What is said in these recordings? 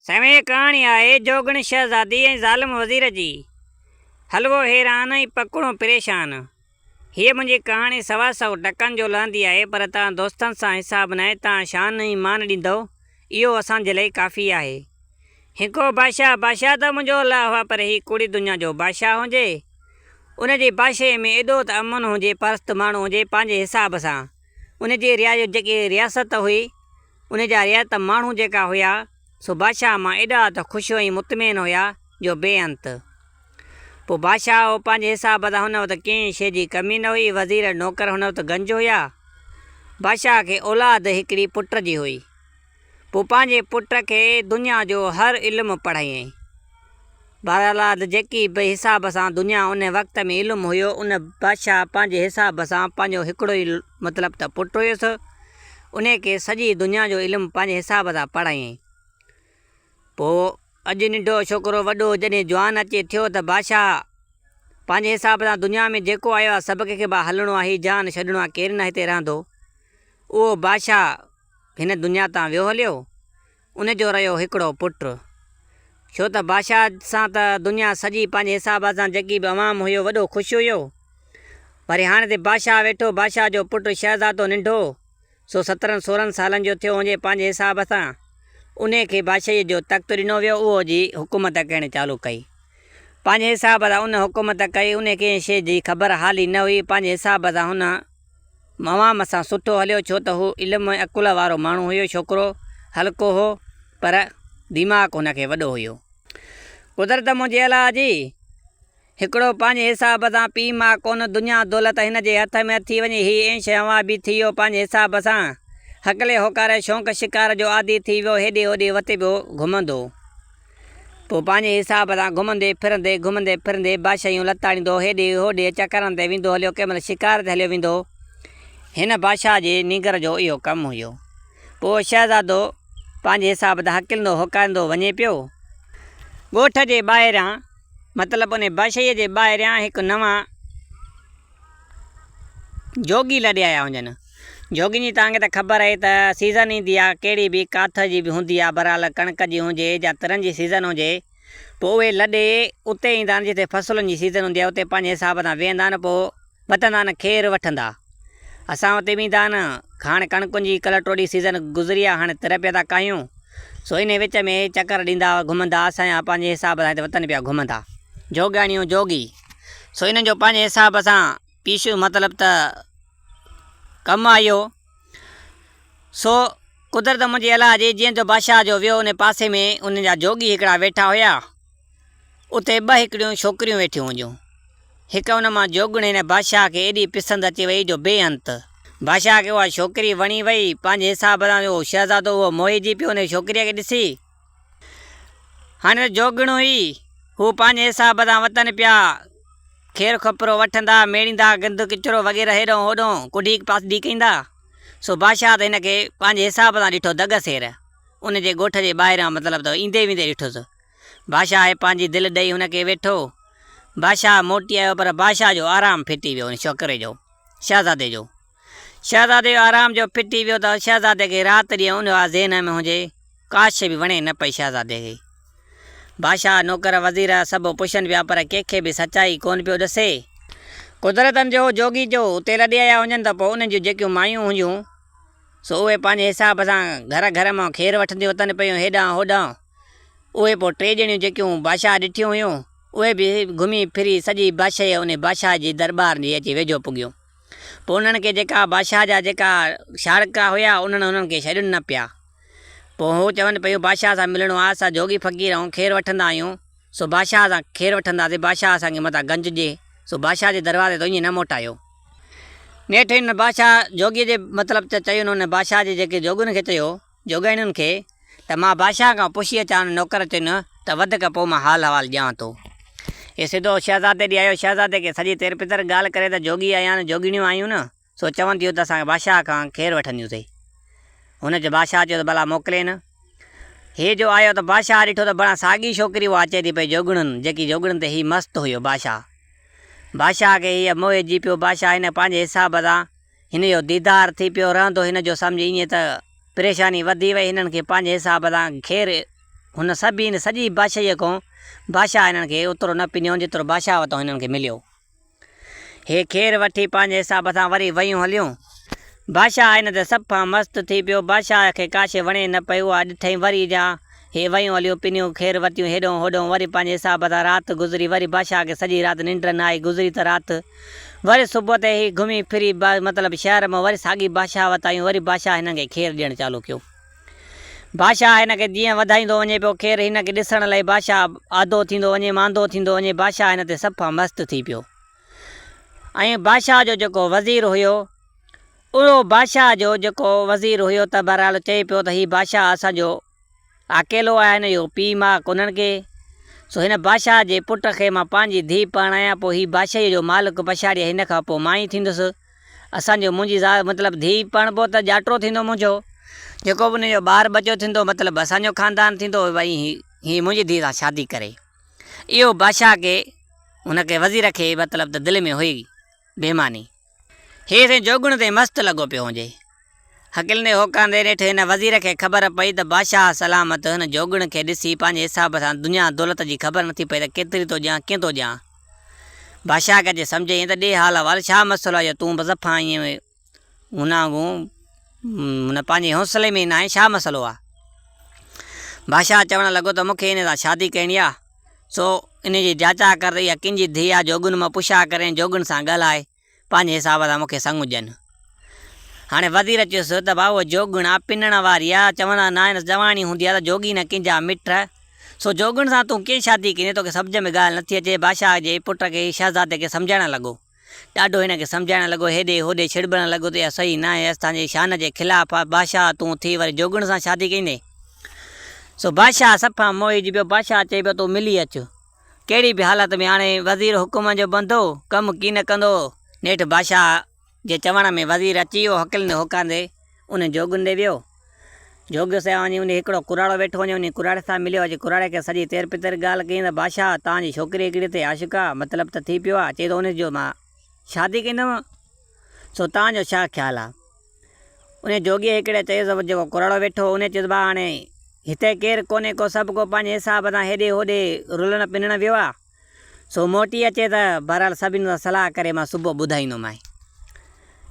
سوين ڪهاڻي آهي جوڳڻ شهزادي ۽ ظالم وزير جي. حلوو حيران ۽ پکوڻو پريشان. هيء منهنجي ڪهاڻي سوا سؤ ٽڪن جو لهندي آهي پر توهان دوستن سان حساب ناهي توهان شان ۽ مان ڏيندؤ اهو اسان جي لئي ڪافي آهي. هنڪو بادشاهه بادشاهه ته منهنجو الله هئا پر هي ڪوڙي دنيا جو بادشاهه هجي ان جي بادشاهي ۾ ايڏو ته امن هجي پرست ماڻهو هجي پنهنجي حساب سان ان جي ريايو جيڪي رياست هئي ان جا رعيت ماڻهو جيڪا هيا سو بادشاهه مان ايڏا ته خوش ۽ مطمئن هيا جو بي انت. پوء بادشاهه پنهنجي حساب تان هن وقت ڪنهن شيء جي ڪمي نه هئي، وزير ۽ نوڪر هن وقت گنج هيا. بادشاهه کي اولاد هڪڙي پٽ جي هئي. پوء پنهنجي پٽ کي دنيا جو هر علم پڙهايائين. بهرحال جيڪي به حساب سان دنيا ان وقت ۾ علم هيو ان بادشاهه پنهنجي حساب سان پنهنجو هڪڙو ئي مطلب ته پٽ هيس، انهيء کي سڄي دنيا جو علم پنهنجي حساب سان پڙهايائين. پوء اڄ ننڍو ڇوڪرو وڏو جڏهن جوان اچي ٿيو ته بادشاهه پنهنجي حساب سان دنيا ۾ جيڪو آيو آهي سڀ ڪنهن کي ڀا هلڻو آهي هي جهان ڇڏڻو آهي ڪير نه هتي رهندو اهو بادشاهه هن دنيا تان ويو هليو. ان جو رهيو هڪڙو پٽ. ڇو ته بادشاهه سان ته دنيا سڄي پنهنجي حساب سان جيڪي به عوام هيو وڏو خوش هيو. وري هاڻي ته بادشاهه ويٺو بادشاهه جو پٽ شهزادو ننڍو سو سترهن سورهن سالن جو ٿيو هونجي پنهنجي حساب سان انهي کي بادشاهي جو تخت ڏنو ويو اهو جي حڪومت ڪنهن چالو ڪئي پنهنجي حساب سان ان حڪومت ڪئي انهي کي ڪنهن شي جي خبر حال ئي نه هئي پنهنجي حساب سان هن موام سان سٺو هليو ڇو ته هو علم ۽ عقل وارو ماڻهو هيو، ڇوڪرو هلڪو هو پر ديماغ هن کي وڏو هيو. قدرت منهنجي الاء جي هڪڙو پنهنجي حساب سان پيء ماء ڪونه دنيا دولت هن جي هٿ ۾ اٿي وڃي هي ايش هنوا بي ٿي ويو پنهنجي حساب سان هڪلي هوڪاري شونق شڪار جو عادي ٿي ويو هيڏي هوڏي وتي پيو گهمندو پوء پنهنجي حساب سان گهمندي ڦرندي، گهمندي ڦرندي بادشاهيون لتاڙيندو هيڏي هوڏي چڪرن تي ويندو هليو ڪنهن مهل شڪار تي هليو ويندو هن بادشاهه جي نينگر جو اهو ڪم هيو پوء شهزادو پنهنجي حساب سان هڪلندو هوڪاريندو وڃي پيو ڳوٺ جي ٻاهريان مطلب انهي بادشاهيء جي ٻاهريان هڪ نوان. جوڳي لڏي آيا هجن. جوڳين جي توهان کي ته خبر آهي ته سيزن ايندي آهي ڪهڙي به، ڪاٿ جي به هوندي آهي بهرحال ڪڻڪ جي هجي يا ترن جي سيزن هجي پوء اهي لڏي اتي ايندا آهن جتي فصلن جي سيزن هوندي آهي اتي پنهنجي حساب سان ويهندا آهن پوء وتندا آهن کير وٺندا اسان اتي به ايندا آهن هاڻ ڪڻڪن جي ڪلهه ٽوڙي سيزن گذري آهي هاڻ تر پيا ٿا ڪاهيون سو انهي وچ ۾ چڪر ڏيندا گهمندا اسان جا پنهنجي حساب سان هتي وتن پيا گهمندا. جوڳياڻيون، جوڳي. سو انهن جو پنهنجي حساب سان پيشو مطلب ته ڪم آيو. سو قدرت منهنجي الله جي جيئن ته بادشاهه جو ويو ان پاسي ۾ انهن جا جوڳي هڪڙا ويٺا هيا اتي ٻه هڪڙيون ڇوڪريون ويٺيون هيون هڪ ان مان جوڳڻي ني بادشاهه کي ايڏي پسند اچي وئي جو بي انت بادشاهه کي اها ڇوڪري وڻي وئي پنهنجي حساب سان جو شهزادو اهو موهي جي پيو ان ڇوڪريء کي ڏسي. هن جوڳڻو ئي هو پنهنجي حساب سان وتن پيا کير کوپرو وٺندا، ميڙيندا، گند ڪچرو وغيره هيڏانهن هوڏانهن ڪڍي پاسدي ڪيندا. سو بادشاهه ته هن کي پنهنجي حساب سان ڏٺو دڳ سير ان جي ڳوٺ جي ٻاهران مطلب ته ايندي ويندي ڏٺس. بادشاهه پنهنجي دل ڏئي هن کي ويٺو. بادشاهه موٽي آيو پر بادشاهه جو آرام ڦٽي ويو ان ڇوڪري جو، شهزادي جو. شهزادي آرام جو ڦٽي ويو ته شهزادي کي رات ڏينهن اونهي آ ذهن ۾ هجي. ڪاش به وڻي نه پئي شهزادي کي. بادشاهه، نوڪر، وزير سڀ پڇن پيا پر ڪنهن کي به سچائي ڪونه پيو ڏسي. قدرتن جو جوڳي جو اتي لڏي آيا هجن ته پوء انهن جون جيڪيون مايون هجون سو اهي پنهنجي حساب سان گهر گهر مان کير وٺنديون وتن پيون هيڏانهن هوڏانهن. اهي پوء ٽي ڄڻيون جيڪيون بادشاهه ڏٺيون هيون اهي به گهمي ڦري سڄي بادشاهي انهي بادشاهه جي درٻار جي اچي ويجهو پڳيون. پوء انهن کي جيڪا بادشاهه جا جيڪا شارڪا هيا، انهن انهن کي ڇڏين نه پيا. پوء هو چون پيون بادشاهه سان ملڻو آ، اسان جوڳي فقير ائون خير وٺندا آهيون، سو بادشاهه سان خير وٺنداسين، بادشاهه اسان کي متان گنج ڏي، سو بادشاهه جي دروازي تون ائين نه موٽايو. نيٺ انهن بادشاهه جوڳي جي مطلب تي چيون، انهن بادشاهه جي جيڪي جوڳين کي چيو. جوڳائڻين کي ته مان بادشاهه کان پڇي اچان نوڪر چين ته وڌڪ پوء مان حال احوال ڏيان ٿو. هي سڌو شهزادي ڏي آيو، شهزادي کي سڄي تير پتر ڳالهه ڪري ته جوڳي آيان جوڳيڻيون آيون نه سو چون ٿيون ته اسان کي بادشاهه کان ڪير وٺنديون اٿئي. هن چيو بادشاهه چيو ته ڀلا موڪلين. هي جو آيو ته بادشاهه ڏٺو ته بڻا ساڳي ڇوڪري اها اچي ٿي پئي جوڳڻن جيڪي جوڳڻن تي هي مست هيو بادشاهه بادشاهه کي هيء موهي جي پيو بادشاهه هن کي پنهنجي حساب سان هن جو ديدار ٿي پيو رهندو هن جو سمجهه ائين ته پريشاني وڌي وئي هنن کي پنهنجي حساب سان خير هن سڀين سڄي بادشاهيء کون بادشاهه هنن کي اوترو نه پڃيو جيترو بادشاهه وتان هنن کي مليو هي خير وٺي پنهنجي حساب سان وري ويون هليون بادشاهه هن تي سڀ کان مست ٿي پيو بادشاهه کي ڪاشي وڻي نه پئي اها ڏٺئي وري جا هي ويون هليون پنيون خير ورتيون هيڏهون هوڏهون وري پنهنجي حساب سان رات گذري وري بادشاهه کي سڄي رات ننڊ نه آئي گذري ته رات وري صبح تي هي گهمي ڦري با مطلب شهر مان وري ساڳي بادشاهه وٽ آيون وري بادشاهه هنن کي خير ڏيڻ چالو ڪيو بادشاهه هن کي جيئن وڌائيندو وڃي پيو خير هن کي ڏسڻ لئي بادشاهه آڌو ٿيندو وڃي ماندو ٿيندو وڃي بادشاهه هن تي صفا مست ٿي پيو ۽ بادشاهه جو جيڪو وزير هيو اهو بادشاهه جو جيڪو وزير هيو ته بهرحال چئي پيو ته هي بادشاهه اسان جو اڪيلو آهيان اهو پيء ماء ڪونهن ڪي، سو هن بادشاهه جي پٽ کي مان پنهنجي ڌيء پرڻايان، پوء هي بادشاهيء جو مالڪ پڇاڙيء هن کان پوء مان ئي ٿيندس. اسان جو منهنجي زال مطلب ڌيء پرڻبو ته ڄاٽو ٿيندو منهنجو، جيڪو به ان جو ٻار ٻچو ٿيندو مطلب اسان جو خاندان ٿيندو ۽ هي منهنجي ڌيء سان شادي ڪري. اهو بادشاهه کي، ان کي وزير کي مطلب ته دل ۾ هئي بيماني. هي سائين جوڳڻ تي مست لڳو پيو هونجي. حقل ني هوڪاندي نيٺ هن وزير کي خبر پئي ته بادشاهه سلامت هن جوڳڻ کي ڏسي پنهنجي حساب سان دنيا دولت جي خبر نٿي پئي ته ڪيتري ٿو ڏيان ڪئين ٿو ڏيان. بادشاهه کي اچي سمجهه ايئن ته ڏي حال احوال ڇا مسئلو آهي جو تون به صفا ائين هن وانگون هن پنهنجي حوصلي ۾ ئي ناهين ڇا مسئلو آهي. بادشاهه چوڻ لڳو ته مون کي هن سان شادي ڪرڻي آهي. سو انهيء جي جاچاء ڪر يا ڪن جي ڌيء آ جوڳن مان پڇاء ڪر ۽ جوڳن سان ڳالهاء، پنهنجي حساب سان مون کي سڱ ڏين. هاڻي وزير چيس ته ڀاء اهو جوڳڻ آ پنڻ واري آ، چوندا ناهن جواني هوندي آ ته جوڳي نه ڪن جا مٺ، سو جوڳڻ سان تون ڪيئن شادي ڪندين، توکي سمجهه ۾ ڳالهه نٿي اچي، بادشاهه جي پٽ کي شهزادي کي سمجهائڻ لڳو. ڏاڍو هن کي سمجهائڻ لڳو، هيڏي هوڏي ڇڙٻڻ لڳو ته اها صحيح ناهي، اسان جي شان جي خلاف آهي، بادشاهه تون ٿي وري جوڳڻ سان شادي ڪيندين؟ سو بادشاهه صفا موهجي پيو، بادشاهه چئي پيو تون ملي اچ، ڪهڙي به حالت ۾ هاڻي وزير حڪم جو بندو، ڪم ڪي نه ڪندو، نيٺ بادشاهه جي چوڻ ۾ وزير اچي ويو، هڪلندي هوڪارندي انهن جوڳن ڏي ويو. جوڳيو سيان وڃي انھي ھڪڙو ڪراڙو ويٺو وڃي انھي ڪراڙي سان مليو اچي ڪراڙي کي سڄي تير پتير ڳالھ ڪيائين ته بادشاھه تان جي ڇوڪري ھڪڙي تي عاشق آ مطلب ته ٿي پيو آ چئي ٿو انھي جو مان شادي ڪندم سو تان جو ڇا خيال آ انھي جوڳي ھڪڙي چيس ته جيڪو ڪراڙو ويٺو ھو انھي چيس ڀاء ھاڻي ھتي ڪير ڪونھي ڪو سڀ ڪو پنھنجي حساب سان ھيڏي ھوڏي رلڻ پنڻ ويو آ. سو موٽي اچي ته بهرحال سڀني سان صلاح ڪري مان صبح ٻڌائيندومانء.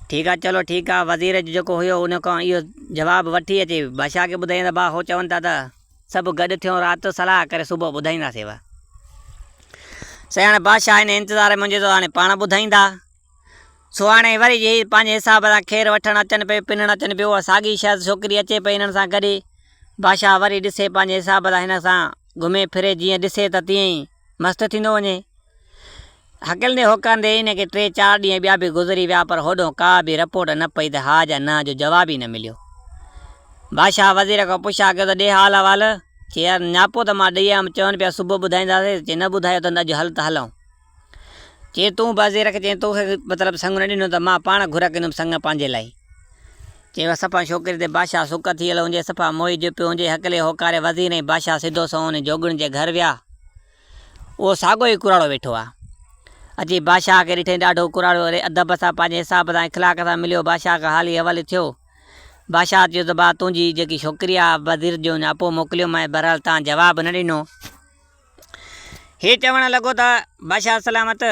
ٺيڪ آ چلو ٺيڪ آ وزير جو جيڪو هيو ان کان اهو جواب وٺي اچي بادشاهه کي ٻڌائين ته باه هو چون ٿا ته سڀ گڏ ٿيون رات جو صلاح ڪري صبح ٻڌائينداسينوء. سياڻي بادشاهه هن انتظار ۾ هجي ٿو هاڻي پاڻ ٻڌائيندا. سهاڻي وري جي پنهنجي حساب سان کير وٺڻ اچن پئي، پنڻ اچن پيو، اها ساڳي شايد ڇوڪري اچي پئي هنن سان گڏي. بادشاهه وري ڏسي پنهنجي حساب سان هن سان گهمي ڦري جيئن ڏسي ته تيئن ئي مست ٿيندو وڃي. هڪلندي هوڪارندي هن کي ٽي چار ڏينهن ٻيا به گذري ويا پر هوڏهون ڪا به رپورٽ نه پئي ته ها جا نه جو جواب ئي نه مليو. بادشاهه وزير کان پڇا ڪيو ته ڏي حال احوال. چي يار نياپو ته مان ڏئي آيم چون پيا صبح ٻڌائينداسين، چي نه ٻڌايو اٿن ته اڄ هل ته هلئون. چي تون به زيرڪ چين تو کي مطلب سڱ نه ڏنو ته مان پاڻ گهر ڪندم سڱ پنهنجي لاء. چي وا صفا ڇوڪري تي بادشاهه سڪ ٿي ويل هونجي صفا موهي جو پيو هونجي هڪلي هوڪاري وزير ۽ بادشاهه سڌو سنئون انهي جوڳڻ جي گهر ويا اهو ساڳو ئي ڪراڙو ويٺو آ اچي بادشاهه کي ڏٺئين ڏاڍو ڪراڙو اري ادب سان پنهنجي حساب سان اخلاق سان مليو بادشاهه کان حالي حوالي ٿيو بادشاهه چيو ته ڀا تنهنجي جيڪي ڇوڪري آ وزير جو اڃا اپو موڪليومانء بهرحال تان جواب نه ڏنو. هي چوڻ لڳو ته، بادشاهه سلامت!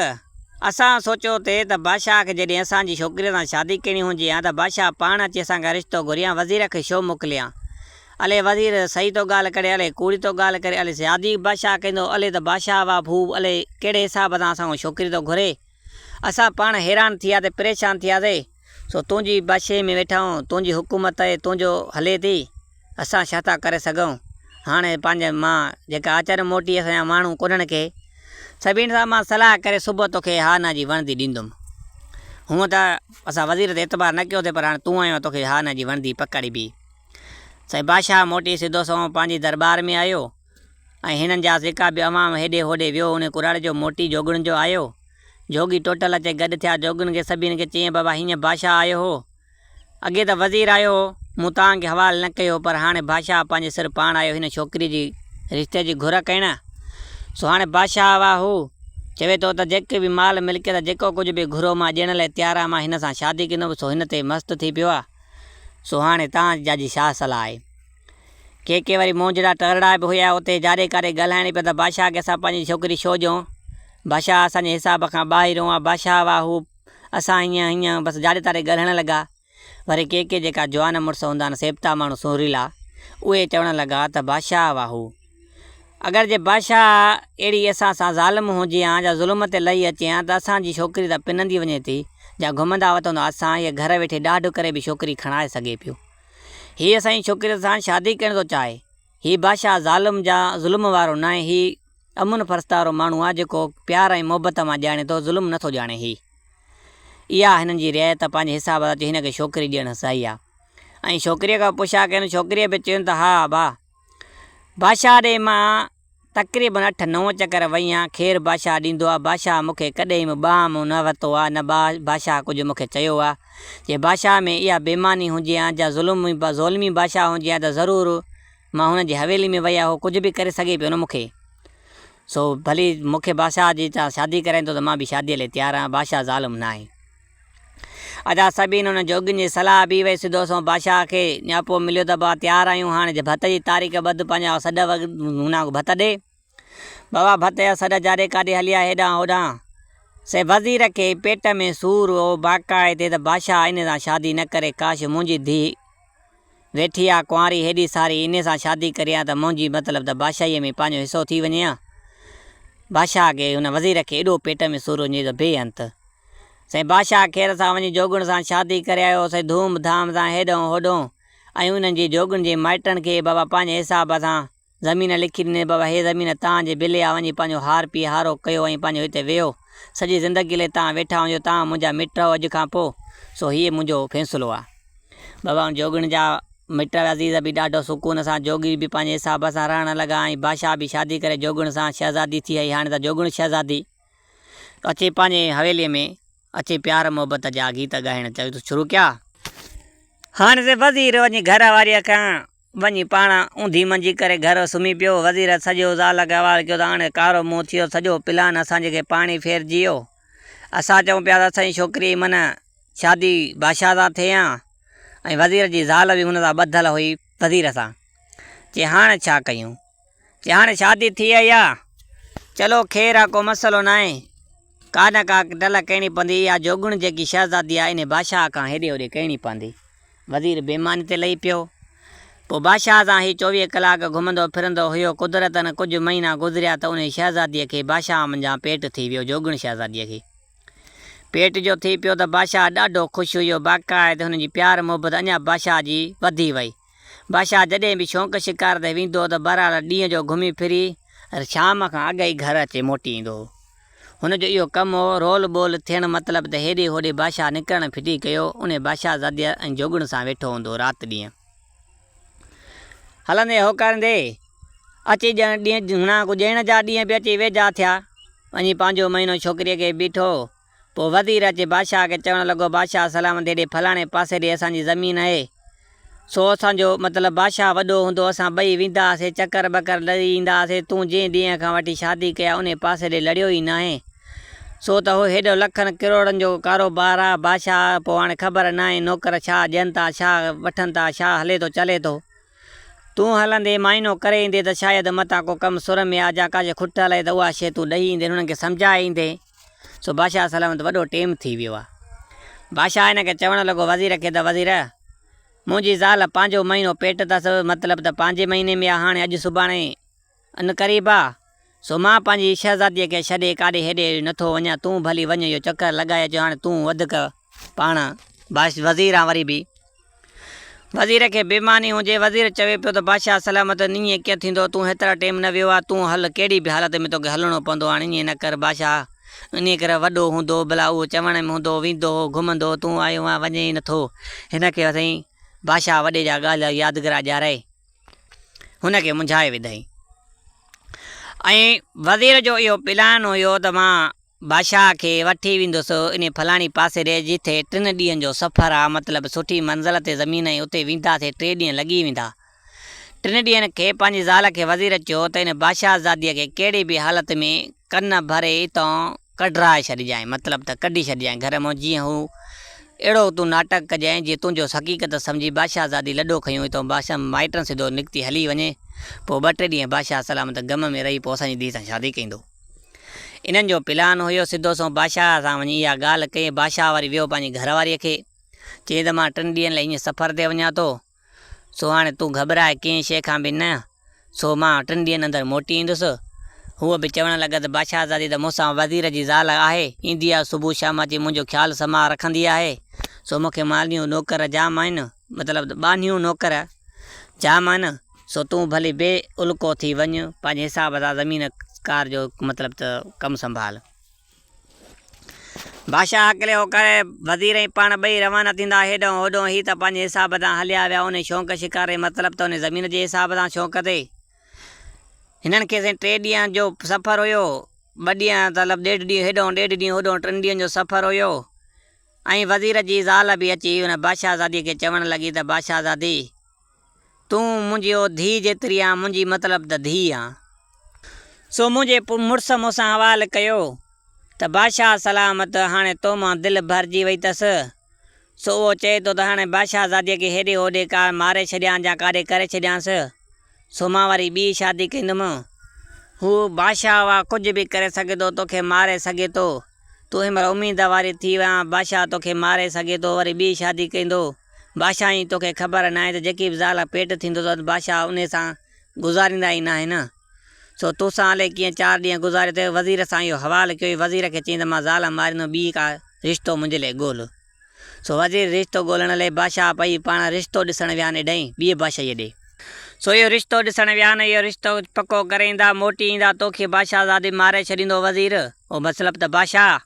اسان سوچيو ٿي ته بادشاهه کي جڏهن اسان جي ڇوڪريء سان شادي ڪرڻي هجي ها ته بادشاهه پاڻ اچي اسان کان رشتو گهري ها وزير کي ڇو موڪلي ها؟ الي وزير صحيح ٿو ڳالهه ڪري الي ڪوڙي ٿو ڳالهه ڪري الي شادي بادشاهه ڪندو الي ته بادشاهه واه ڀو الي ڪهڙي حساب سان اسان کان ڇوڪري ٿو گهري؟ اسان پاڻ حيران ٿي ويا ٿي پريشان ٿي وياسي. سو تون جي بادشاهي ۾ ويٺا آهون، تون جي حڪومت آهي، تون جو هلي ٿي، اسان ڇا ٿا ڪري سگهون؟ هاڻي پنهنجي مان جيڪا آچر موٽي اسان جا ماڻهو ڪونهن ڪي. سڀني سان مان صلاح ڪري صبح توکي هانا جي وڻدي ڏيندم. هونء ته اسان وزير تي اعتبار نه ڪيوسين پر هاڻي تون آيو آهين توکي هانا جي وڻدي پڪڙبي. سائين بادشاهه موٽي سڌو سنئون پنهنجي درٻار ۾ آيو ۽ هنن جا جيڪا به عوام هيڏي هوڏي ويو انهي ڪراڙي جو موٽي جوڳڻ جو آيو. جوڳي ٽوٽل اچي گڏ ٿيا جوڳين کي سڀني کي چيائين بابا هينئن بادشاهه آيو هو اڳي ته وزير آيو هو مون توهان کي حوال نه ڪيو پر هاڻي بادشاهه پنهنجي سر پاڻ آيو هن ڇوڪري جي رشتي جي گهر ڪئين سو هاڻي بادشاهه اها هو چوي ٿو ته جيڪي به مال ملڪيت جيڪو ڪجهه به گهرو مان ڏيڻ لاء تيار آهيان مان هن سان شادي ڪندم سو هن تي مست ٿي پيو آهي سو هاڻي توهان جاجي ڇا صلاح آهي. ڪي ڪي وري منهن جهڙا ٽهرڙا به هيا. اتي جاري ڪاري ڳالهائڻي پئي ته بادشاهه کي اسان پنهنجي ڇوڪري ڇو ڏيون؟ بادشاهه اسان جي حساب کان ٻاهريون آ. بادشاهه واهه هو اسان هينئن هينئن بس جاري تاري ڳالهائڻ لڳا. وري ڪي ڪي جيڪا جوان مڙس هوندا آهن سيبتا ماڻهو سهريلا اهي چوڻ لڳا ته بادشاهه واهه هو اگر جي بادشاهه اهڙي اسان سان ظالم هونجي هان جا ظلم تي لهي اچي هان ته اسان جي ڇوڪري ته پنندي وڃي ٿي جا گهمندا وتندا اسان هيء گهر ويٺي ڏاڍ ڪري به ڇوڪري کڻائي سگهي پيو. هي اسانجي ڇوڪريء سان شادي ڪرڻ ٿو چاهي. هي بادشاهه ظالم جا ظلم وارو ناهي هي امن پرست وارو ماڻهو آهي جيڪو پيار ۽ محبت مان ڄاڻي ٿو ظلم نه ٿو ڄاڻي هي اها هنن جي ريء ته پنهنجي حساب سان چيو هن کي ڇوڪري ڏيڻ سهي آهي ۽ ڇوڪريء کان پڇا ڪيائين ڇوڪريء به چيو ته ها ابا بادشاهه ڏي مان تقريبن اٺ نو چڪر وئي آن خير باشا ڏيندو آ باشا مون کي ڪڏهن به ٻانهن مون نه ورتو آ نه با باشا ڪجهه مون کي چيو آ جي باشا ۾ اها بيماني هجي آن جا ظلم با ظولمي باشا هجي آ ته ضرور مان هن جي حويلي ۾ وئي آ هو ڪجهه به ڪري سگهي پيو نه مون کي سو ڀلي مون کي باشا جي تان شادي ڪرائيندو ته مان به شادي لئي تيار آ باشا ظالم ناهي. ادا سبين انهن جوڳين جي صلاح ڀي وئي سڌو سنئون بادشاهه کي نياپو مليو ته بابا تيار آهيون هاڻ جي ڀت جي تاريخ ٻڌ پنهنجا او سڏ وڳ هنا ڪو ڀت ڏي. بابا ڀت جا سڏ جاڏي ڪاڏي هليا هيڏانهن هوڏانهن سي وزير کي پيٽ ۾ سور هو باقاعي تي ته بادشاهه انهي سان شادي نه ڪري ڪاش منهنجي ڌيء ويٺي آ ڪنواري هيڏي ساري انهي سان شادي ڪري هان ته منهنجي مطلب ته بادشاهي ۾ پنهنجو حصو ٿي وڃي هان. بادشاهه کي هن وزير کي ايڏو پيٽ ۾ سور هو جنهن جو بي انت. سائين بادشاهه کير سان وڃي جوڳڻ سان شادي ڪري آيو. سائين ڌوم ڌام سان هيڏهون هوڏهون ۽ انهن جي جوڳڻ جي مائٽن کي بابا پنهنجي حساب سان زمين لکي ڏني ته بابا هي زمين تان جي بلي آ وڃي پنهنجو هار پي هارو ڪيو ۽ پنهنجو هتي ويهو سڄي زندگي لئي تان ويٺا هجو تان منهنجا مٽ آهو اڄ کان پو سو هيء منهنجو فيصلو آ. بابا ان جوڳڻ جا مٽ عزيز به ڏاڍو سڪون سان جوڳي به پنهنجي حساب سان رهڻ لڳا ۽ بادشاهه به شادي ڪري جوڳڻ سان شهزادي ٿي هئي هاڻي ته جوڳڻ شهزادي. اچي پنهنجي حويليء ۾ اچي پيار محبت جا گيت ڳائڻ شروع ڪيا. هاڻ ته وزير وڃي گهر واريء کان وڃي پاڻ اونڌي منجي ڪري گهر سمهي پيو. وزير سڄو زال کي حوالي ڪيو ته هاڻ ڪارو منهن ٿيو، سڄو پلان اسان جي کي پاڻي ڦيرجي ويو. اسان چئون پيا ته اسان جي ڇوڪريء جي من شادي بادشاهه سان ٿئي ها ۽ وزير جي زال به هن سان ٻڌل هئي وزير سان چي هاڻ ڇا ڪيون؟ ڄاڻ شادي ٿي آئي آ. چلو خير آ ڪو مسئلو ناهي. ڪا نه ڪا ٽلهه ڪهڻي پوندي. اها جوڳڻ جيڪي شهزادي آ انهي بادشاهه کان هيڏي هوڏي ڪهڻي پوندي. وزير بي ماني تي لهي پيو. پوء بادشاهه سان هي چوويهه ڪلاڪ گهمندو ڦرندو هيو. قدرتن ڪجهه مهينا گذريا ته انهي شهزاديء کي بادشاهه منجهان پيٽ ٿي ويو. جوڳڻ شهزاديء کي پيٽ جو ٿي پيو ته بادشاهه ڏاڍو خوش هيو. باقاعد هن جي پيار محبت اڃا بادشاهه جي وڌي وئي. بادشاهه جڏهن به شونق شڪار تي ويندو ته بهرحال ڏينهن جو گهمي ڦري شام کان اڳ ئي گهر اچي موٽي ايندو هو. هن جو اهو ڪم هو، رول ٻول ٿيڻ مطلب ته هيڏي هوڏي بادشاهه نڪرڻ ڦٽي ڪيو، انهي بادشاهزاديء ۽ جوڳڻ سان ويٺو هوندو رات ڏينهن. هلندي هوڪاريندي اچي ڄڻ ڏينهن جهوناڪو ڄڻ جا ڏينهن به اچي ويجها ٿيا. وڃي پنهنجو مهينو ڇوڪريء کي بيٺو. پوء وزير اچي بادشاهه کي چوڻ لڳو، بادشاهه سلامت هيڏي ڦلاڻي پاسي ڏي اسان جي زمين آهي، سو اسان جو مطلب بادشاهه وڏو هوندو، اسان ٻئي ويندا هئاسين، چڪر ٻڪر لڙي ايندا هئاسين، تون جنهن ڏينهن کان وٺي شادي ڪئي آهي، انهي پاسي ڏي لڙيو ئي ناهين، سو ته هو هيڏو لکن ڪروڙن جو ڪاروبار آهي، بادشاهه پوء هاڻي خبر ناهي، نوڪر ڇا ڏين ٿا، ڇا وٺن ٿا، ڇا هلي ٿو چلي ٿو، تون هلندي معائنو ڪري ايندي ته شايد متان ڪو ڪم سر ۾ آ، جا ڪا شيء کٽل آهي ته اها شيء تون ڏئي ايندين، انهن کي سمجهائي ايندين. سو بادشاهه سلام وٽ وڏو ٽيم ٿي ويو آهي. بادشاهه هن کي چوڻ لڳو وزير کي ته وزير! منهنجي زال پنهنجو مهينو پيٽ اٿس، مطلب ته پنهنجي مهيني ۾ آهي، هاڻي اڄ سڀاڻي ان قريب آهي، سو مان پنهنجي شهزاديء کي ڇڏي ڪاڏي هيڏي هوڏي نٿو وڃان، تون ڀلي وڃ اهو چڪر لڳائي اچ، هاڻي تون وڌيڪ پاڻ وزير آهين وري به. وزير کي بي معني هجي، وزير چوي پيو ته بادشاهه سلامت ائين ڪيئن ٿيندو، تون هيترا ٽيم نه ويو آهي، تون هل، ڪهڙي به حالت ۾ توکي هلڻو پوندو، هاڻي ائين نه ڪر، بادشاهه انهيء ڪري وڏو هوندو، ڀلا اهو چوڻ ۾ هوندو، ويندو هو، گهمندو، تون آيو آهين، وڃين ئي نٿو، هن کي سائين بادشاهه وڏي جا ڳالهه يادگرا ڏيارائي، هن کي منجهائي وڌائين. ۽ وزير جو اهو پلان هيو ته مان. بادشاهه کي وٺي ويندس انهي فلاڻي پاسيري جتي ٽن ڏينهن جو سفر آ مطلب سٺي منزل تي زمين ۽ اتي وينداسي ٽي ڏينهن لڳي ويندا ٽن ڏينهن کي پنهنجي زال کي وزير چيو ته ان بادشاهه زادي کي ڪهڙي به حالت ۾ ڪن ڀري اتان ڪڍرائي ڇڏجانء مطلب ته ڪڍي ڇڏجانء گهر مان جيئن هو اهڙو تون ناٽڪ ڪجانء جي تنهنجو حقيقت سمجهي بادشاهه زادي لڏو کنيو اتان بادشاهه مائٽن سڌو نڪتي هلي وڃي پوء ٻه ٽي ڏينهن بادشاهه سلامت غم ۾ رهي پوء اسان جي ڌيء سان شادي ڪيندو. انهن جو پلان هيو سڌو سنئون بادشاهه سان وڃي اها ڳالهه ڪئي. بادشاهه وري ويو پنهنجي گهر واريء کي چيائين ته مان ٽن ڏينهن لاء ايئن سفر تي وڃان ٿو، سو هاڻي تون گهٻراء ڪنهن شيء کان به نه، سو مان ٽن ڏينهن اندر موٽي ايندس. هوء به چوڻ لڳس ته بادشاهزادي ته مون سان وزير جي زال آهي، ايندي آهي صبح شام اچي منهنجو خيال سماء رکندي آهي، سو مون کي مالهيون نوڪر جام آهن. مطلب ته ٻانهيون نوڪر جا معنيٰ سو تون ڀلي بي الڪو ٿي وڃ، پنهنجي حساب سان زمين ڪار جو مطلب ته ڪم سنڀال. بادشاهه هاڪلي هو ڪري، وزير ۽ پاڻ ٻئي روانا ٿيندا هيڏانهن هوڏانهن، هي ته پنهنجي حساب سان هليا ويا، انهي شونق شڪار ۽ مطلب ته انهي زمين جي حساب سان شونق تي. هنن کي سائين ٽي ڏينهن جو سفر هيو، ٻه ڏينهن مطلب ڏيڍ ڏينهن هيڏانهن ڏيڍ ڏينهن هوڏانهن ٽن ڏينهن جو سفر هيو. ۽ وزير جي زال به اچي ان بادشاهزاديء کي چوڻ لڳي ته بادشاهزادي! تون منهنجي او ڌيء جيتري آن، منهنجي مطلب ته ڌيء آن. سو منهنجي مڙس مون سان حوال ڪيو ته بادشاهه سلامت، هاڻي تو مان دل ڀرجي وئي تس. سو اهو چئي ٿو ته هاڻي بادشاهزاديء کي هيڏي هوڏي ڪا ماري ڇڏيان جا ڪاڏي ڪري ڇڏيانس. سو مان وري ٻي شادي ڪندم. هو بادشاهه آ، ڪجهه به ڪري سگهي ٿو، توکي ماري سگهي ٿو. تون همرا اميد واري ٿي ويان، بادشاهه توکي ماري سگهي ٿو وري ٻي شادي ڪيندو، بادشاهه ائين توکي خبر ناهي ته جيڪي به زال پيٽ ٿيندو اٿس ته بادشاهه انهي سان گذاريندا ئي ناهن، سو تو سان الئي ڪيئن چار ڏينهن گذاري ٿو، وزير سان اهو حوال ڪيو ۽ وزير کي چيائين ته مان زال ماريندم ٻي ڪا رشتو منهنجي لاء ڳول. سو وزير رشتو ڳولڻ لئي بادشاهه پئي پاڻ رشتو ڏسڻ ويان ايڏهين ٻيئي بادشاهيء ڏي. سو اهو رشتو ڏسڻ ويان اهو رشتو پڪو ڪري ايندا، موٽي ايندا توکي بادشاهه زادي ماري ڇڏيندو وزير او مطلب ته بادشاهه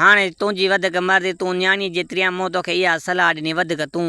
هاڻي تنهنجي وڌڪ مرضي تون نياڻيء جي تريان مون توکي اها صلاح ڏني وڌڪ تون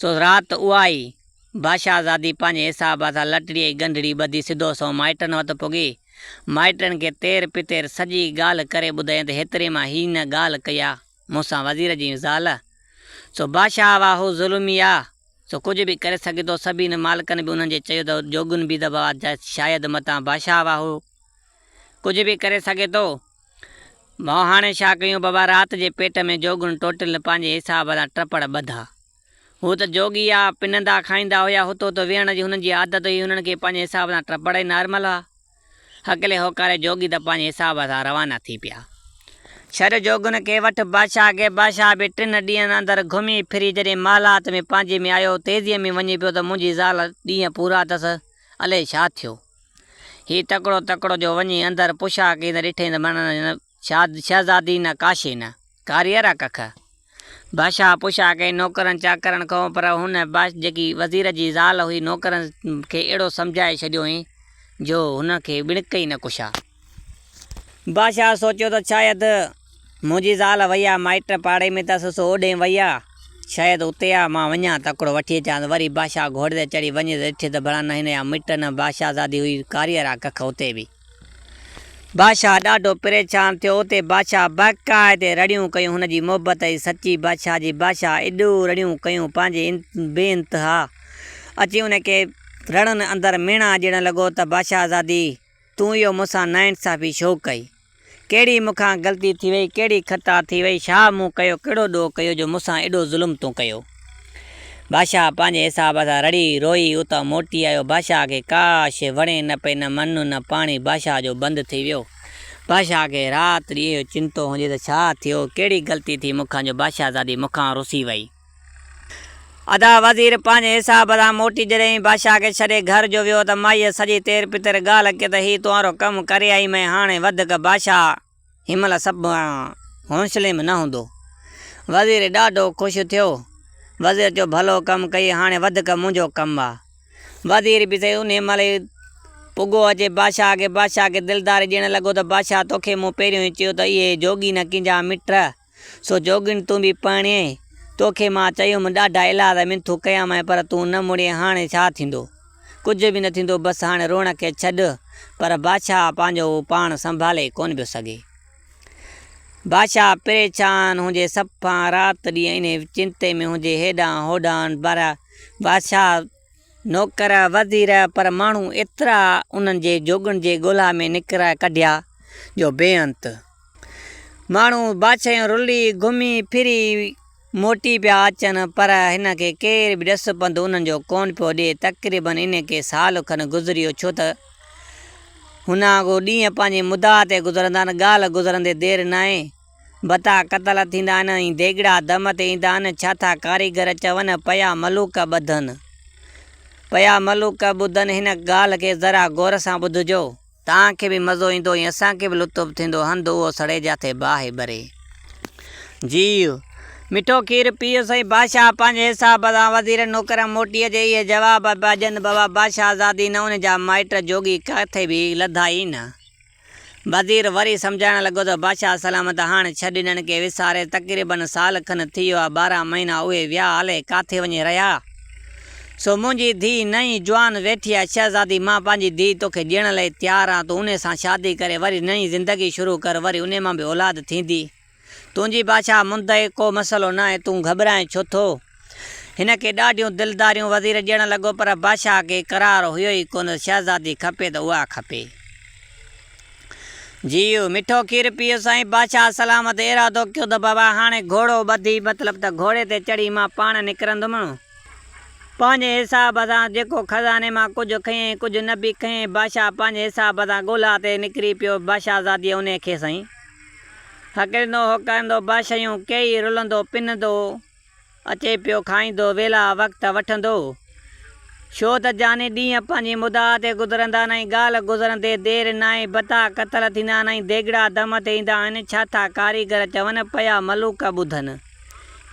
سو رات اها ئي. باشاهزادي پنهنجي حساب سان لٽڙي ۽ ڳنڍڙي ٻڌي سڌو سنئون مائٽن وٽ پڳي. مائٽن کي تير پتير سڄي ڳالهه ڪري ٻڌائين ته هيتري مان هي نه ڳالهه ڪئي آ مون سان وزير جي زال. سو باشاهه اها هو ظلمي آ. سو ڪجهه به ڪري سگهي ٿو. سڀينه مالڪن به انهن جي چيو ته جوڳن بيدبوا جا شايد متان باشاهه اها هو ڪجهه به ڪري سگهي ٿو. ڀاء هاڻي ڇا ڪيون بابا رات جي پيٽ ۾ جوڳن ٽوٽل پنهنجي حساب سان ٽپڙ ٻڌا. هو ته جوڳي آ، پنهندا کائيندا هيا، هتو هتو ويهڻ جي هنن جي عادت هئي، هنن کي پنهنجي حساب سان ٽپڙ ئي نارمل هئا. هڪلي هوڪاري جوڳي ته پنهنجي حساب سان روانا ٿي پيا. ڇڏ جوڳن کي وٺ بادشاهه کي، بادشاهه به ٽن ڏينهن اندر گهمي ڦري جڏهن محلات ۾ پنهنجي ۾ آيو، تيزيء ۾ وڃي پيو ته منهنجي زال ڏينهن پورا اٿس الئي ڇا ٿيو. هي تڪڙو تڪڙو جو وڃي اندر پڇا ڪئي ته ڏٺئي ته مڻ نه شهزادي نه ڪاشي نه ڪاريء را ڪک. بادشاهه پڇا ڪئي نوڪرن چاڪرن کانئون پر هن جيڪي وزير جي زال هئي نوڪرن کي اهڙو سمجهائي ڇڏيوئين جو هن کي ٻڻڪ ئي نه ڪشا. بادشاهه سوچيو ته شايد منهنجي زال وئي آ، مائٽ پاڙي ۾ تس سو اوڏهين وئي آ، شايد اتي آ، مان وڃان تڪڙو وٺي اچانس. وري بادشاهه گهوڙي تي چڙهي وڃي ته ڏٺي ته ڀلا نه هن جا مٽ نه بادشاهزادي هئي ڪاريئر آ ڪک اتي به. بادشاهه ڏاڍو پريشان ٿيو اتي بادشاهه باقاعدي رڙيون ڪيون هن جي محبت ۽ سچي بادشاهه جي بادشاهه ايڏو رڙيون ڪيون پنهنجي بي انتها اچي ان کي رڙن اندر ميڻا ڄڻ لڳو ته بادشاهزادي تون اهو مون سان ناانصافي ڇو ڪئي؟ ڪهڙي مون کان غلطي ٿي وئي، ڪهڙي خطا ٿي وئي، ڇا مون ڪيو، ڪهڙو ڏوهه ڪيو جو مون سان ايڏو ظلم تون ڪيو؟ بادشاهه پنهنجي حساب سان رڙي روئي اتان موٽي آيو. بادشاهه کي ڪاش وڻي نه پئي، نه منھن نه پاڻي بادشاهه جو بند ٿي ويو. بادشاهه کي رات ڏينھن اهو چنتو هوندي ته ڇا ٿيو، ڪهڙي غلطي ٿي مون کان جو بادشاهزادي مون کان رسي وئي. ادا وزير پنهنجي حساب سان موٽي جڏهين بادشاهه کي ڇڏي گهر جو ويو ته مائيء سڄي تير پتر ڳالهه ڪئي ته هي تنهارو ڪم ڪري آئي مئين هاڻي وڌڪ بادشاهه هن مهل سڀ کان حوصلي ۾ نه هوندو. وزير ڏاڍو خوش ٿيو. وزير چيو ڀلو ڪم ڪئي هاڻي وڌڪ منهنجو ڪم آ. وزير به سهي انهي مهل ئي پڳو اچي بادشاهه کي بادشاهه کي دلداري ڏيڻ لڳو ته بادشاهه توکي مون پهريون ئي چيو ته اهي جوڳي نه ڪينجا مٽ. سو جوڳڻ تون به پرڻي آهين. توکي مان چيم، ڏاڍا ايلاز ۽ منٿون ڪيامانء پر تون نه مڙين، هاڻي ڇا ٿيندو؟ ڪجهه به نه ٿيندو، بس هاڻي روئڻ کي ڇڏ. پر بادشاهه پنهنجو پاڻ سنڀالي ڪونه پيو سگهي. بادشاهه پريشان هجي، صفا رات ڏينهن انهيء چنتي ۾ هجي، هيڏانهن هوڏانهن. پر بادشاهه. نوڪر وزير پر ماڻهو ايترا انهن جي جوڳن جي ڳولها ۾ نڪري ڪڍيا جو بي انت ماڻهو بادشاهيون رلي گهمي ڦري موٽي پيا اچن پر هن کي ڪير به ڏس پنڌ انهن جو ڪونه پيو ڏي تقريبن انهي کي سال کن گذريو ڇو ته هن آگو ڏينهن پنهنجي مدعا تي گذرندا آهن ڳالهه گذرندي دير ناهي. بتا قتل ٿيندا آهن ۽ ديڳڙا دم تي ايندا آهن، ڇا ٿا ڪاريگر چون، پيا ملوڪ ٻڌن. پيا ملوڪ ٻڌن هن ڳالهه کي ذرا غور سان ٻڌجو. توهان کي به مزو ايندو ۽ اسان کي به لطف ٿيندو، هنڌ اهو سڙي جاٿي باهه ٻري. جي مٺو کير پيئو سائين بادشاهه پنهنجي حساب سان وزيرن نوڪرن موٽي اچي اهي جواب پيا ڏين بابا بادشاهزادي نه ان جا مائٽ جوڳي ڪٿي به لڌائين نه. وزير وري سمجهائڻ لڳو ته بادشاهه سلامت هاڻ ڇڏ انهن کي وساري تقريباً سال کن ٿي ويو آهي ٻارهن مهينا اهي ويا الئي ڪاٿي وڃي رهيا سو منهنجي ڌيء نئين جوان ويٺي آهي شهزادي مان پنهنجي ڌيء توکي ڏيڻ لئي تيار آهيان تون انهي سان شادي ڪري وري نئين زندگي شروع ڪر وري انهي مان به اولاد ٿيندي تنهنجي بادشاهه مندئي ڪو مسئلو ناهي، تون گهٻرائين ڇو ٿو؟ هن کي ڏاڍيون دلداريون وزير ڏيڻ لڳو پر بادشاهه کي قرار هيو ئي ڪونه ته شهزادي کپي ته اها کپي. جيئو مٺو کير پيئو سائين بادشاهه سلامت ارادو ڪيو ته بابا هاڻي گهوڙو ٻڌي مطلب ته گهوڙي تي چڙهي مان پاڻ نڪرندم. پنهنجي حساب سان جيڪو خزاني مان ڪجهه کنئين ڪجهه نه به کنئين بادشاهه پنهنجي حساب سان ڳولها تي نڪري پيو بادشاهزاديء انهي کي سائين. هڪرندو هوڪرندو باشيون ڪيئي رلندو پنندو اچي پيو کائيندو ويلا وقت وٺندو ڇو ته جاني ڏينهن پنهنجي مدعا تي گذرندا آهن ۽ ڳالهه گذرندي دير ناهي بتا قتل ٿيندا آهن ۽ ديڳڙا دم تي ايندا آهن ڇا ٿا ڪاريگر چون پيا ملوڪ ٻڌن.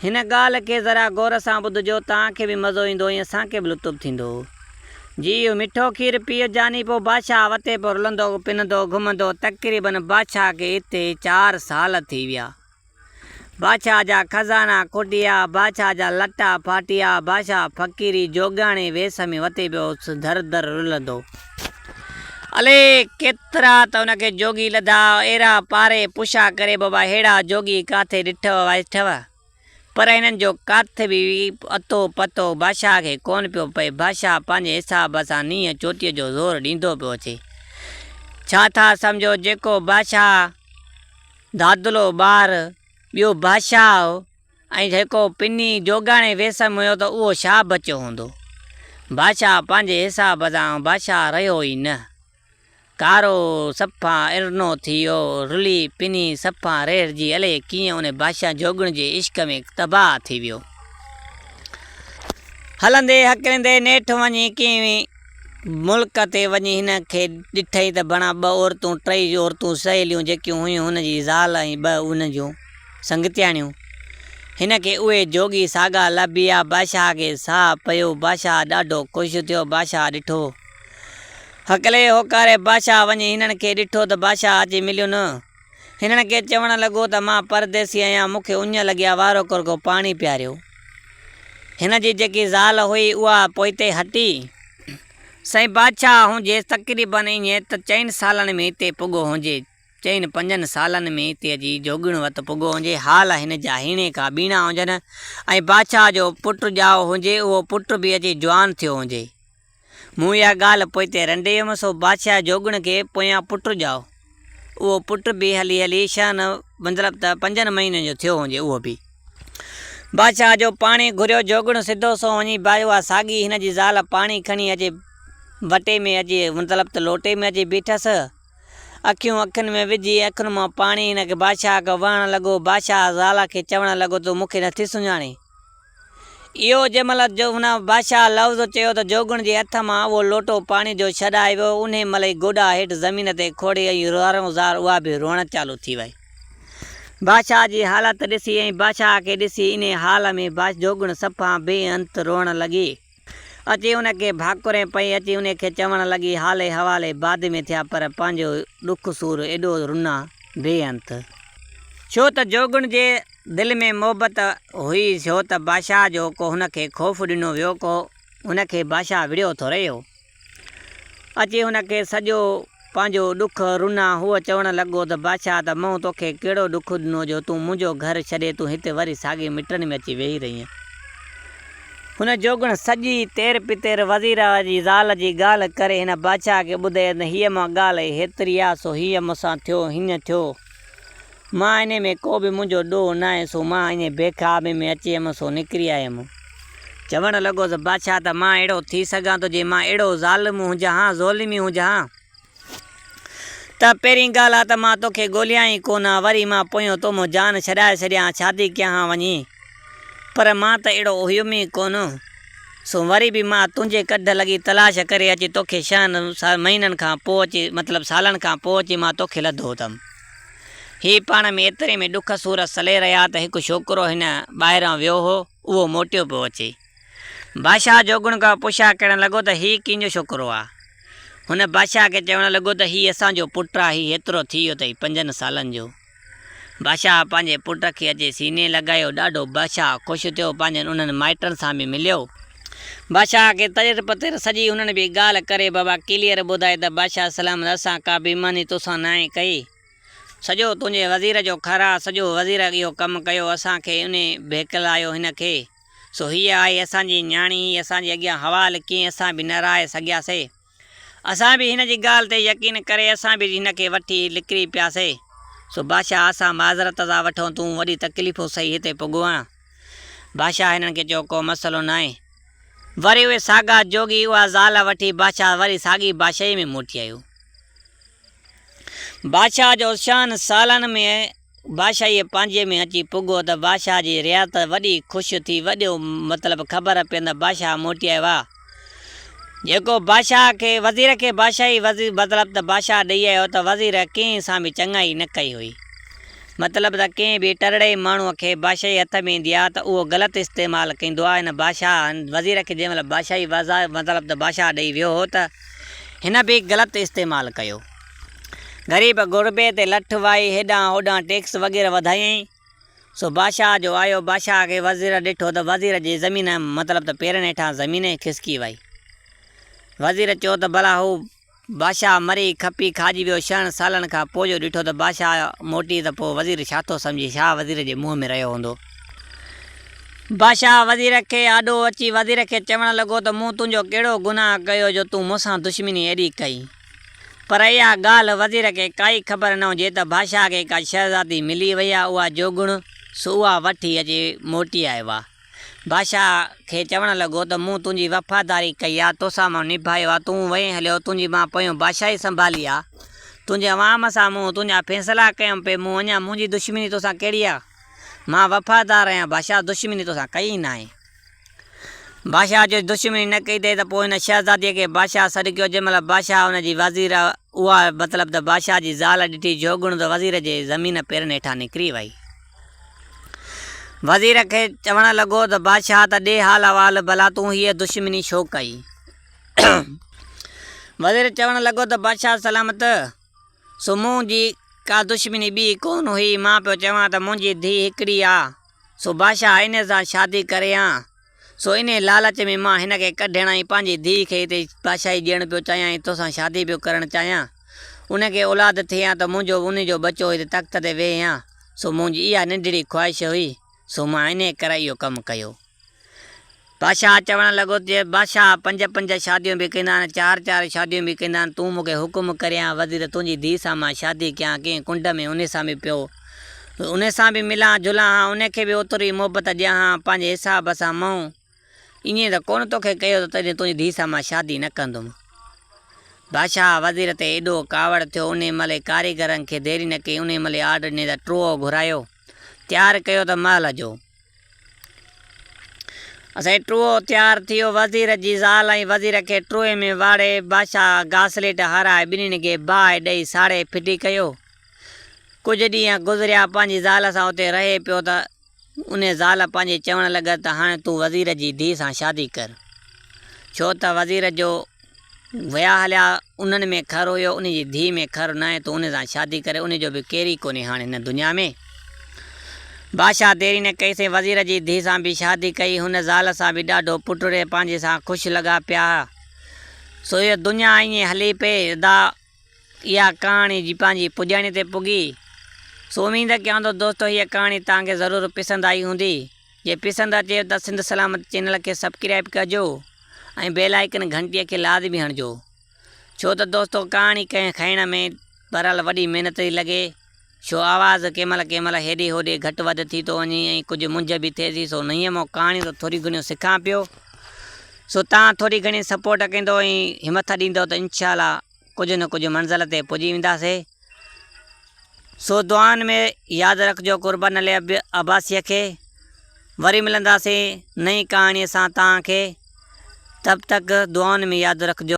هن ڳالهه کي ذرا غور سان ٻڌجو، توهان کي به مزو ايندو ۽ اسان کي به لطف ٿيندو. جي اهو مٺو کير پيئي جاني پوء بادشاهه وتي پوء رلندو، پنندو، گهمندو. تقريباً بادشاهه کي اتي چار سال ٿي ويا. بادشاهه جا خزانا کوٽيا، بادشاهه جا لٽا ڦاٽيا، بادشاهه فقيري جوڳياڻي ويس ۾ وتي پيو در در رلندو. الي ڪيترا ته ان کي جوڳي لڌا، ايرا پاري پڇا ڪري بابا ههڙا جوڳي ڪاٿي ڏٺئو وائٺئو؟ پر هنن جو ڪاٿ به اتو پتو بادشاهه کي ڪونه پيو پئي، بادشاهه پنهنجي حساب سان نينهن چوٽيء جو زور ڏيندو پيو اچي. ڇا ٿا سمجهو جيڪو بادشاهه دادلو ٻار ٻيو بادشاهه هو، ۽ جيڪو پني جوڳاڻي ويسم هيو ته اهو ڇا بچيو هوندو؟ بادشاهه پنهنجي حساب سان بادشاهه رهيو ئي نه. ڪارو سپهه ارنو ٿيو، رلي پني سپهه ريڙهجي الئي ڪيئن ان بادشاهه جوڳڻ جي عشق ۾ تباهه ٿي ويو. هلندي هڪليندي نيٺ وڃي ڪنهن ملڪ تي وڃي هن کي ڏٺئي ته بڻا ٻه عورتون ٽئي عورتون سهيليون جيڪيون هيون هن جي زال ۽ ٻه هن جون. سنگتياڻيون هن کي اهي جوڳي ساڳا لڀيا بادشاهه کي ساهه پيو بادشاهه ڏاڍو خوش ٿيو بادشاهه ڏٺو هڪلي هوڪاري بادشاهه وڃي هنن کي ڏٺو ته بادشاهه اچي مليو نه هنن کي چوڻ لڳو ته مان پرديسي آهيان مون کي اڃ لڳيا وارو ڪرگهو پاڻي پياريو هن جي جيڪي زال هئي اها پوئتي هٽي سائين بادشاهه هونجيس تقريبن ائين ته چئن سالن ۾ هتي پڳو هونجي. چئن پنجن سالن ۾ تي اچي جوڳڻ وت پڳو هونجي، حال هن جا هيڻي ڪا ٻيڻا هونجن، ۽ بادشاهه جو پٽ ڄائو هونجي، اهو پٽ به اچي جوان ٿيو هونجي. مون اها ڳالهه پوئتي رنڊي هيم، سو بادشاهه جوڳڻ کي پويان پٽ ڄائو. اهو پٽ به هلي هلي شهن مطلب ته پنجن مهينن جو ٿيو هونجي، اهو به. بادشاهه جو پاڻي گهريو جوڳڻ سڌو سنئون وڃي با اها ساڳي هن جي زال پاڻي کڻي اچي وٽي ۾ اچي مطلب ته لوٽي ۾ اچي بيٺس، اکيون اکين ۾ وجهي اکين مان پاڻي هن کي بادشاهه آگهه وهڻ لڳو. بادشاهه زالا کي چوڻ لڳو تون مون کي نٿي سڃاڻين؟ اهو جنهن مهل هن، بادشاهه، لفظ چيو ته جوڳڻ جي هٿ مان اهو لوٽو پاڻي جو ڇڏائي ويو. انهي مهل ئي گوڏا هيٺ زمين تي کوڙي ۽ زارون زار اها به روئڻ چالو ٿي وئي. بادشاهه جي حالت ڏسي ۽ بادشاهه کي ڏسي انهي حال ۾ جوڳڻ صفا بي انت روئڻ لڳي. اچي ان کي ڀاڪرين پئي اچي انهي کي چوڻ لڳي حالي حوالي بعد ۾ ٿيا پر پنهنجو ڏک سور ايڏو رنا بي انت ڇو ته جوڳڻ جي دل ۾ محبت هئي ڇو ته بادشاهه جو ڪو هن کي خوف ڏنو ويو ڪو هن کي بادشاهه وڙهيو ٿو رهيو. اچي هن کي سڄو پنهنجو ڏک رنا. هوء چوڻ لڳو ته بادشاهه ته مون توکي ڪهڙو ڏک ڏنو جو تون منهنجو گهر ڇڏي تون هتي وري ساڳي مٽڻي ۾ اچي ويهي رهين. هن جوڳڻ سڄي تير پتير وزيراء جي زال جي ڳالهه ڪري هن بادشاهه کي ٻڌائي ته هيء مان ڳالهه هيتري آ سو هيء مون سان ٿيو هينئن ٿيو. مان انهيء ۾ ڪو به منهنجو ڏوهه ناهي، سو مان انهيء بي خوابيء ۾ اچي هيم، سو نڪري آيم. چوڻ لڳوس، بادشاهه، ته مان اهڙو ٿي سگهان ٿو، جي مان اهڙو ظالم هجان ها، ظلمي هجان ها، ته پهرين ڳالهه اها ته مان تو کي ڳوليان ئي ڪونه ها، وري مان پويون تو مان جان ڇڏائي ڇڏيان ها، شادي ڪيان ها وڃي، پر مان ته اهڙو هيم ئي ڪونه، سو وري به مان تنهنجي ڪڍ لڳي تلاش ڪري اچي تو کي ڇهن مهينن کان پوء اچي، مطلب سالن کان پوء اچي مان تو کي لڌو اٿم. هي پاڻ ۾ ايتري ۾ ڏک سور سلي رهيا ته هڪ ڇوڪرو هن ٻاهران ويو هو، اهو موٽيو پيو اچي. بادشاهه جوڳڻ کان پڇا ڪرڻ لڳو ته هي ڪنهن جو ڇوڪرو آ؟ هن بادشاهه کي چوڻ لڳو ته هي اسان جو پٽ آ، هي هيترو ٿي ويو اٿئي پنجن سالن جو. بادشاهه پنهنجي پٽ کي اچي سيني لڳايو، ڏاڍو بادشاهه خوش ٿيو، پنهنجن انهن مائٽن سان به مليو. بادشاهه کي ترير پتير سڄي هنن به ڳالهه ڪري بابا ڪليئر ٻڌائي ته بادشاهه سلام ته اسان ڪا بيماني توسان ناهي ڪئي. سڄو تنهنجي وزير جو خر آ سڄو وزير اهو ڪم ڪيو اسان کي انهي ڀيڪلايو هن کي سو هيء آهي اسان جي نياڻي هي اسان جي اڳيان حوال ڪيئي اسان به نه رائي سگهياسي. اسان به هن جي ڳالهه تي يقين ڪري اسان به هن کي وٺي لڪري پياسي. سو بادشاهه اسان معذرت ٿا وٺون تون وڏي تڪليفون سهي هتي پڳو آهين. بادشاهه هنن کي چيو ڪو مسئلو ناهي. وري اهي ساڳا جوڳي اها زال وٺي بادشاهه وري ساڳي بادشاهيء ۾ موٽي آيو. بادشاهه جو شان سالن ۾ بادشاهيء پنهنجي ۾ اچي پڳو ته بادشاهه جي رعايت وڏي خوش ٿي وڏيو مطلب خبر پيندڙ بادشاهه موٽي آيو آ جيڪو بادشاهه کي وزير کي بادشاهي وزير مطلب ته بادشاهه ڏئي آيو ته وزير ڪنهن سان به چڱائي نه ڪئي هئي مطلب ته ڪنهن به ٽرڙي ماڻهوء کي بادشاهي هٿ ۾ ايندي آ ته اهو غلط استعمال ڪيندو آ هن بادشاهه هن وزير کي جنهن مهل بادشاهي وزا مطلب ته بادشاهه ڏئي ويو هو ته هن به غلط استعمال ڪيو. غريب غربي تي لٺ وائي هيڏانهن هوڏانهن ٽيڪس وغيره وڌايائين. سو بادشاهه جو آيو، بادشاهه کي وزير ڏٺو ته وزير جي زمين مطلب ته پيرن هيٺان زمين ئي کسڪي وئي. وزير چيو ته ڀلا هو بادشاهه مري کپي کاڄي ويو ڇهن سالن کان پوء جو ڏٺو ته بادشاهه موٽي ته پوء وزير ڇا ٿو سمجهي ڇا وزير جي منهن ۾ رهيو هوندو. بادشاهه وزير کي آڏو اچي وزير کي چوڻ لڳو ته مون تنهنجو ڪهڙو گناهه ڪيو جو تون مون سان دشمني ايڏي ڪئين. پر اها ڳالهه وزير کي ڪائي خبر نه هجي ته بادشاهه کي ڪا شهزادي ملي وئي آهي اها جوڳڻ، سو اها وٺي اچي موٽي آيو آهي. بادشاهه کي چوڻ لڳو ته مون تنهنجي وفاداري ڪئي آهي، توسان مان نڀايو آهي، تون وئين هليو، تنهنجي مان پويون بادشاهي سنڀالي آهي، تنهنجي عوام سان مون تنهنجا فيصلا ڪيم پئي، مون اڃا منهنجي دشمني توسان ڪهڙي آهي؟ مان وفادار آهيان، بادشاهه دشمني توسان ڪئي ئي ناهي. بادشاهه جو دشمني نه ڪئي اٿئي ته پوء هن شهزاديء کي بادشاهه سڏ ڪيو، جنهن مهل بادشاهه ان جي وزير اها مطلب ته بادشاهه جي زال ڏٺي، جو گڻ ته وزير جي زمين پيرن هيٺان نڪري ويئي. وزير کي چوڻ لڳو ته بادشاهه ته ڏي حال احوال، ڀلا تون هيء دشمني ڇو ڪئي؟ وزير چوڻ لڳو ته بادشاهه سلامت، سو مون جي ڪا دشمني ٻي ڪونه هئي، مان پيو چوان ته منهنجي ڌيء هڪڙي آ، سو بادشاهه آئيني سان شادي ڪري ها، سو انهيء لالچ ۾ مان هن کي ڪڍڻ ۽ پنهنجي ڌيء کي هتي بادشاهي ڏيڻ پيو چاهيان ۽ توسان شادي پيو ڪرڻ چاهيان. ان کي اولاد ٿئي ها ته منهنجو به انهي جو ٻچو هتي تخت تي ويهي ها، سو منهنجي اها ننڍڙي خواهش هئي، سو مان انهيء ڪري اهو ڪم ڪيو. بادشاهه چوڻ لڳو ته بادشاهه پنج پنج شاديون به ڪندا آهن، چار چار شاديون به ڪندا آهن، تون مون کي حڪم ڪرين ها وزير تنهنجي ڌيء سان مان شادي ڪيان، ڪنهن ڪنڊ ۾ انهي سان به پيو انهي سان به ملان جلان ها، انهي کي به اوترو ئي محبت ڏيان ها، پنهنجي حساب سان مئون ائين ته ڪونه توکي ڪيو ته تنهنجي تنهنجي ڌيء سان مان شادي نه ڪندم. بادشاهه وزير تي ايڏو ڪاوڙ ٿيو انهي مهل ئي ڪاريگرن کي ديري نه ڪئي انهي مهل ئي آرڊر ڏني ته ٽوئو گهرايو تيار ڪيو ته محل جو. اسين ٽوئو تيار ٿيو، وزير جي زال ۽ وزير کي ٽوئي ۾ واڙي، بادشاهه گاسليٽ هارائي ٻنهين کي باهه ڏئي ساڙي ڦٽي ڪيو. ڪجهه ڏينهن گذريا، پنهنجي زال سان اتي رهي پيو ته انهي زال پنهنجي چوڻ لڳس ته هاڻي تون وزير جي ڌيء سان شادي ڪر، ڇو ته وزير جو. ويا هليا انهن ۾ خر هيو انهي جي ڌي ۾ خر ناهي تون انهي سان شادي ڪري انهي جو به ڪيري ڪونهي هاڻ هن دنيا ۾ بادشاهه ديري نه ڪئي سين وزير جي ڌي سان به شادي ڪئي هن زال سان به ڏاڍو پٽڙي پنهنجي سان خوش لڳا پيا سو هيء دنيا ائين هلي پئي ادا اها ڪهاڻي جي پنهنجي پڄاڻي تي پڳي سو اميد ڪيان ٿو دوستو هيء ڪهاڻي توهان کي ضرور پسند آئي هوندي جي پسند اچيو ته سنڌ سلامت چينل کي سبڪرائب ڪجو ۽ بيل آئيڪن گهنٽي کي لازمي هڻجو ڇو ته دوستو ڪهاڻي ڪنهن کائڻ ۾ بهرحال وڏي محنت ٿي لڳي. ڇو آواز ڪنهن مهل ڪنهن مهل هيڏي هوڏي گهٽ وڌ ٿي ٿو وڃي ۽ ڪجهه منجهه به ٿئي ٿي سو نئين مون ڪهاڻيون ته ٿوريون گهڻيون سکان پيو سو توهان ٿوري گهڻي سپورٽ ڪندو ۽ همٿ ڏيندو ته انشاء الله ڪجهه نه ڪجهه منزل تي پڄي وينداسي سو دعائن ۾ ياد رکجو قربان علي عباسيء کي وري ملنداسي نئين ڪهاڻيء سان توهان کي تب تڪ دعائن ۾ ياد رکجو.